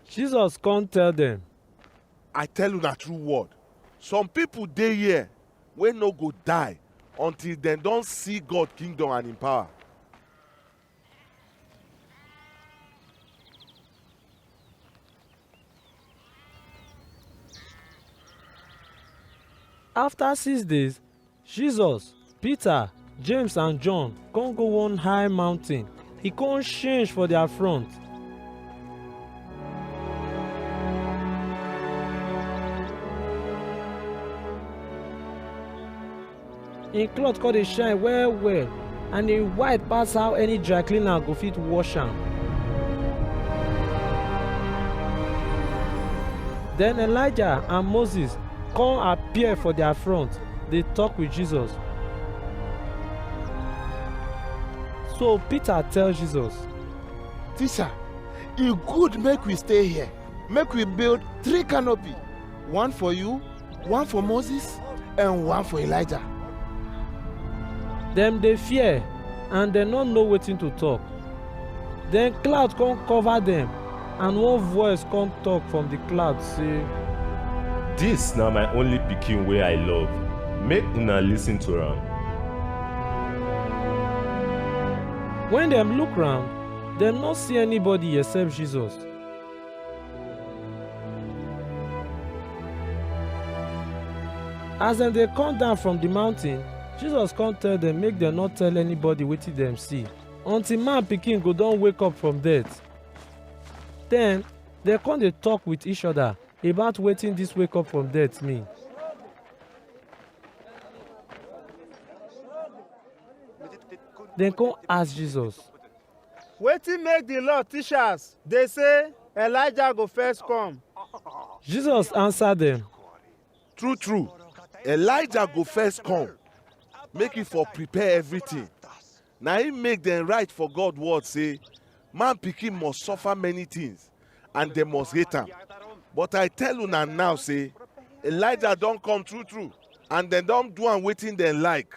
Jesus come tell dem, I tell una true word. Some people dey here wey no go die until dem don see God kingdom and im power. After six days, Jesus, Peter, James and John come go one high mountain. He come change for their front. Him cloth come dey shine well well and e white pass how any dry cleaner go fit wash am. Then Elijah and Moses come appear for their front, dey talk with Jesus. So Peter tell Jesus, Teacher, e good make we stay here. Make we build three canopy, one for you, one for Moses and one for Elijah. Dem dey fear and dem no know wetin to talk. Then cloud come cover dem and one voice come talk from the cloud say, Dis na my only pikin wey I love, make una listen to am. When dem look round, dem no see anybody except Jesus. As dem dey come down from the mountain, Jesus come tell dem make dem no tell anybody wetin dem see until man pikin go don wake up from death. Then dem come dey talk with each other about wetin this wake up from death mean. Dem come ask Jesus, Wetin make the law teachers dey say Elijah go first come? Jesus answer them. True true, Elijah go first come make he for prepare everything. Na him make dem write for God word say man pikin must suffer many things and dem must hate am. But I tell una now say Elijah don come true true and dem don do am wetin dem like.